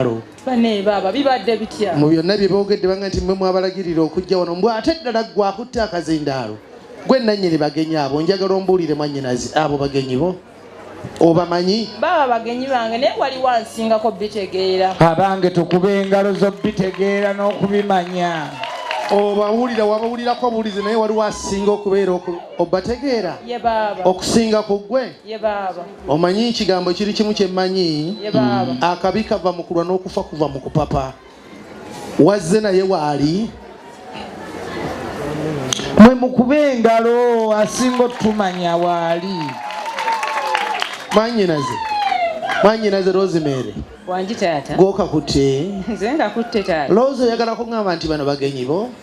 olutalo mu byonna bye boogedde banga nti mwe mwabalagirira okujja wano mbw ate ddala gwe akutte akazindaalo gwe nannyini bagenyi abo njagala ombuulire mwannyinazi abo bagenyi bo obamanyi baba bagenyi bange naye wali wansingako bitegeera abange tukuba engalo zo bitegeera n'okubimanya obawulira wabawulirako obuwulizi naye waliwo asinga okubeera obategeera okusinga ku ggwe omanyi ekigambo kiri kimu kyemmanyi akabi kava mu kulwa n'okufa kuva mu kupapa wazze naye waali mwe mukuba engalo asinga otumanya waali mwanyinaze mwanyinaze rosemary wangi taata gwokakutte nze ngakutte taata loozi oyagalako ngamba nti bano bagenyi bo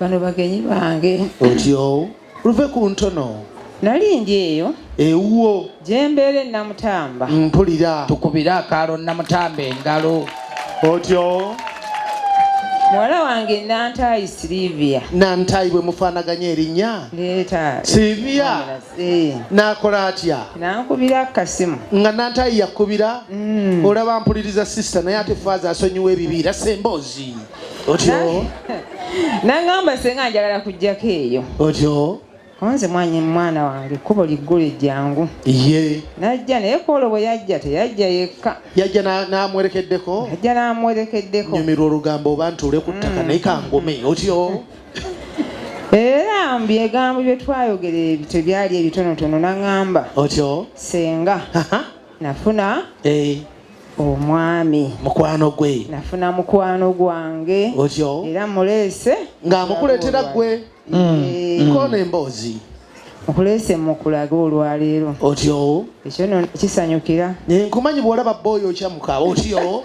bano bagenyi bange otyo luve ku ntono nali ndi eyo ewuwo gyembeera enamutamba mpulira tukubire akaalo namutamba engalo otyo muwala wange nantayi silivia nantayi bwe mufaanaganya erinnya leeta silivia eh. nakola atya nankubira kasimu nga nantayi yakubira mm. olaba mpuliriza sisita naye ate faaza asonyiwa ebibiira semboozi otyo nangamba senga njagala kujjako eyo otyo konze mwanyi mwana wange kubo liggulu ejjangu ye najja naye kwolwo bwe yajja teyajja yekka yajja n'amwerekeddeko yajja n'amwerekeddeko nyumirwa olugambo oba ntuule ku ttaka mm. naye kangume otyo era mbu egambo bye twayogera ebyo tebyali ebitonotono naŋamba otyo senga nafuna eh. omwami mukwano gwe nafuna mukwano gwange otyo era muleese ng'amukuleetera gwe mm. eh. nkoona emboozi nkuleese mukulaga olwaleero otyo ekyo no kisanyukira eh, nkumanyi bwolaba booyo okyamuka otyo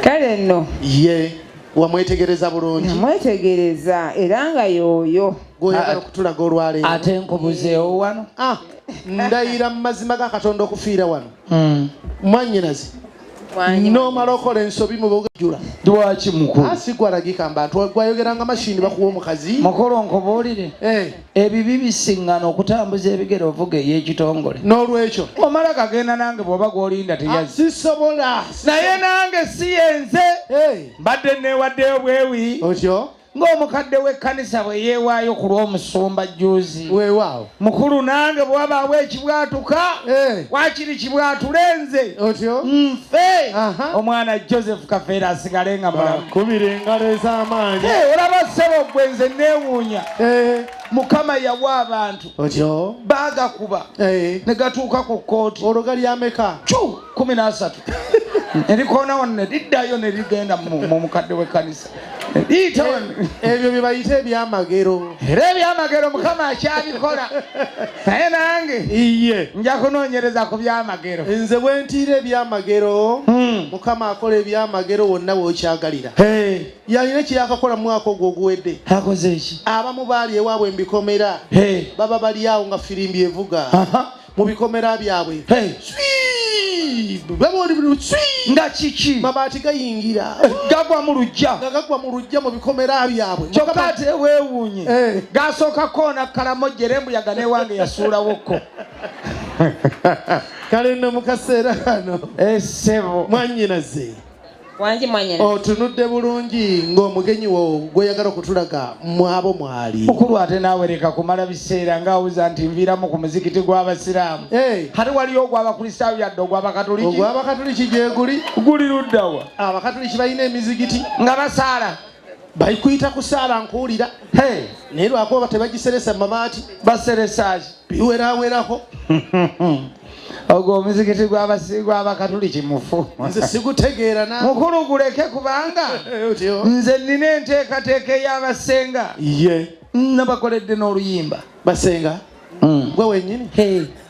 kale nno ye wamwetegereza bulungi namwetegereza era nga yooyo gwoyagala okutulaga olwaleero ate nkubuzeewo wano ah. ndayira mu mazima ga katonda okufiira wano hmm. mwanyinazi nomala okola ensobi mubugajula lwaki mukuasigwalagika ah, mbantu gwayogeranga mashini bakuwa omukazi mukulu nkubuulire eh. ebibi bisingana okutambuza ebigere ovuga eyekitongole nolwekyo omala kagenda nange bwoba gwolinda teyasisobola ah, naye nange siyenze eh. mbadde newaddeyo bwewi otyo ng'omukadde w'ekkanisa bwe yeewaayo ku lw'omusumba jjuuzi weewaawo mukulu nange bwe wabaawo ekibwatuka eh. wakiri kibwatule nze otyo nfe omwana joseph kafeera asigale nga mulakubira engalo ez'amaanyi eh, olaba ssebo gwe nze neewuunya eh. mukama yawa abantu otyo baagakuba ne gatuuka ku kkooti olwo gali ameka cu kumi nasatu erikoona wano neriddayo nerigenda mu mukadde w'ekkanisa ebyo byebayita ebyamagero era ebyamagero mukama akyabikola naye nange iye nja kunoonyereza ku byamagero nze bwentiira ebyamagero hmm. mukama akola ebyamagero wonna wokyagalira yalina kyeyakakola mu mwaka ogwo oguwedde akoze ki abamu baali ewaabwe mbikomera baba bali awo nga firimbi evuga mu bikomera byabwe nga kiki mabaati gayingira eh, gagwa mu lujja nga gagwa mu lujja mu bikomera byabwe kyokka ate weewuunye eh. gasooka koona kalamojja era embuyaga newange yasuulawokko kale nno mu kaseera kano esebo eh, mwanyinaze otunudde bulungi ng'omugenyi wo gweyagala okutulaga mwabo mwali mukulu ate naawe leka kumala biseera ng'awuza nti nviiramu ku muzikiti gw'abasiraamu hati waliyo ogw'abakristaayo yadde ogw'abakatuliki ogw'abakatuliki gyeguli guli luddawa abakatuliki balina emizikiti nga basaala bali kuyita kusaala nkuwulira naye lwakuba tebagiseresa mumabaati baseresaki biwerawerako ogwo omuzikiti gwabasiigwa abakatuliki mufu nze sigutegeera na mukulu guleke kubanga eh, nze nina enteekateeka ey'abasenga ye nabakoledde n'oluyimba basenga mm. gwe wenyini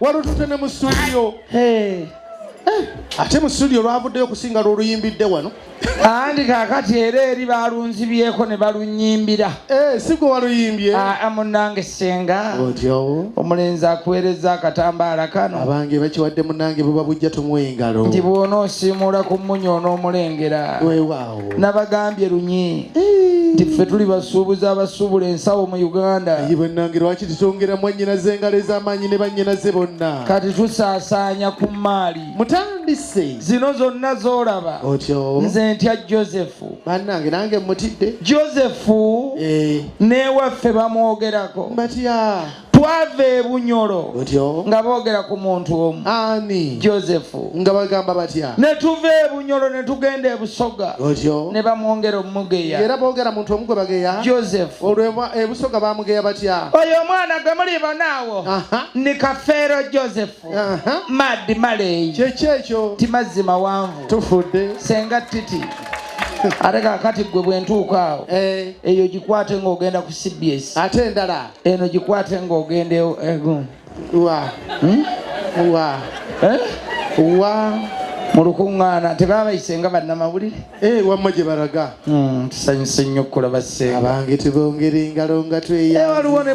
walutute ne mu studio eh. ate mu studio lwavuddeyo okusinga lwoluyimbidde wano andi kakati era eri balunzibyeko ne balunyimbira eh, sigwe waluyimbye ah, ah, munange senga omulenzi akuweereza akatambaala kano abange bakiwadde munange buba bujja tumuwa engalo nti bwona osiimuula ku munya onoomulengera nabagambye lunyi nti ffe tuli basuubuzi abasuubula ensawo mu uganda ye bwennange lwaki tutongera mwannyinaze engalo ez'amaanyi ne bannyinaze bonna kati tusaasaanya ku mmaali mutandise zino zonna z'olaba otyo nze ntya josefu bannange nange mutidde josefu eh. n'ewaffe bamwogerako batya twava e bunyolo nga boogera ku muntu omu ani josefu nga bagamba batya ne tuva e bunyolo ne tugenda e busoga ne bamwongera omugeya era boogera muntu omu gwe bageya josefu olwo e busoga bamugeya batya oyo omwana gwe muli banaawo ni kafeero josefu madi maleyi kyekyo ekyo ti mazzi mawanvu tufudde senga titi ate kakati gwe bwentuuka awo eh. eyo gikwate ng'ogenda ku cbs ate endala eno gikwate ng'ogenda ego wa hmm? wa eh? wa mu lukuŋŋaana tebabayise nga bannamawulire eh, wamma gye balaga hmm, tusanyuse nnyo okulaba ssenga abange tubongere engalo nga tweya eh, waliwo ne